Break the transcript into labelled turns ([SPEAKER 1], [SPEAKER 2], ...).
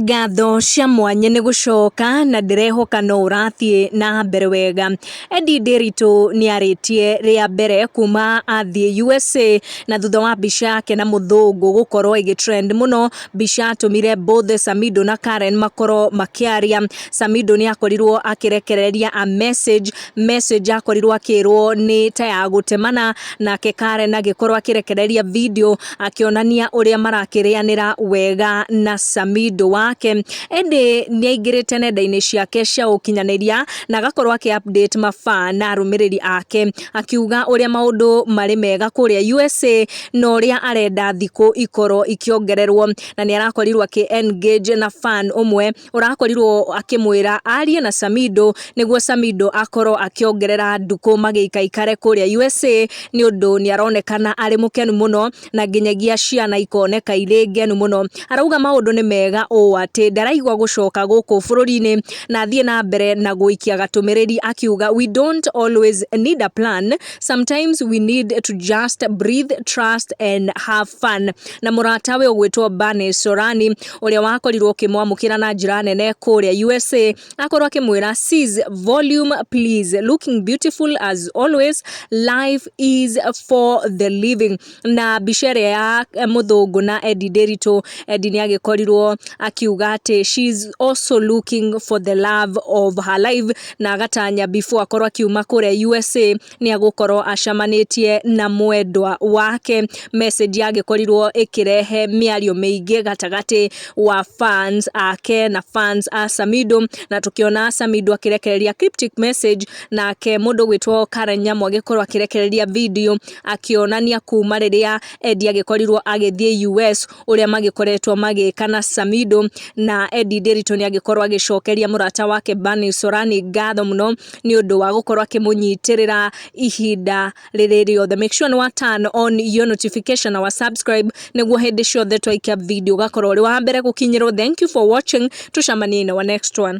[SPEAKER 1] Ngatho cia mwanya nĩ gũcoka na ndĩrehoka no ũrathiĩ na mbere wega. Eddie Ndiritu nĩ arĩtie rĩa mbere kuma athiĩ USA na thutha wa mbica yake na mũthũngũ gũkorwo ĩgĩ trend mũno, mbica yatũmire both Samido na Karen makorwo makĩaria. Samido nĩ akorirwo akĩrekereria a message, message yakorirwo akĩrwo nĩ ta ya gũtemana, nake Karen agĩkorwo akĩrekereria video. akĩonania ũrĩa marakĩrĩanĩra wega na Samido wake ĩndĩ nĩ aingĩrĩte nenda-inĩ ciake cia ũkinyanĩria na agakorwo akĩ update mabaa na arũmĩrĩri ake akiuga ũrĩa maũndũ marĩ mega kũrĩa USA na ũrĩa arenda thikũ ikorwo ikĩongererwo na nĩ arakorirwo akĩ engage na fan ũmwe ũrakorirwo akĩmwĩra arie na Samido nĩguo Samido akorwo akĩongerera ndukũ magĩikaikare kũrĩa USA nĩ ũndũ nĩ aronekana arĩ mũkenu mũno na nginyagia ciana ikoneka irĩ ngenu mũno. Arauga maũndũ nĩ mega ũũ atĩ ndaraigua gũcoka gũkũ bũrũri-inĩ na athiĩ na mbere na gũikia gatũmĩrĩri akiuga we don't always need a plan sometimes we need to just breathe, trust and have fun. Na mũratawe ũgwĩtwo Bane Sorani ũrĩa wakorirwo ũkĩmwamũkĩra na njĩra nene kũrĩa USA akorwo akĩmwĩra sis volume please looking beautiful as always life is for the living na mbica ĩrĩa ya mũthũngũ na Eddie Nderitu Eddie nĩ agĩkorirwo akiuga atĩ she is also looking for the love of her life na agatanya before akorwo akiuma kũrĩa USA nĩ agũkorwo acemanĩtie na mwendwa wake. Message yagĩkorirwo ĩkĩrehe mĩario mĩingĩ gatagatĩ wa fans ake na fans a Samido, na tũkĩona Samido akĩrekereria cryptic message, nake mũndũ ũgwĩtwo Karen Nyamu agĩkorwo akĩrekereria video akĩonania kuma rĩrĩa Eddie agĩkorirwo agĩthiĩ US ũrĩa magĩkoretwo magĩka na Samido na Eddie Nderitu nĩ agĩkorwo agĩcokeria mũrata wake Bani Sorani ngatho mũno nĩ ũndũ wa gũkorwo akĩmũnyitĩrĩra ihinda rĩrĩ rĩothe make sure nĩ wa turn on your notification na wa subscribe nĩguo hĩndĩ ciothe twaikia video ũgakorwo ũrĩ wa mbere gũkinyĩrwo thank you for watching tũcamanie in our next one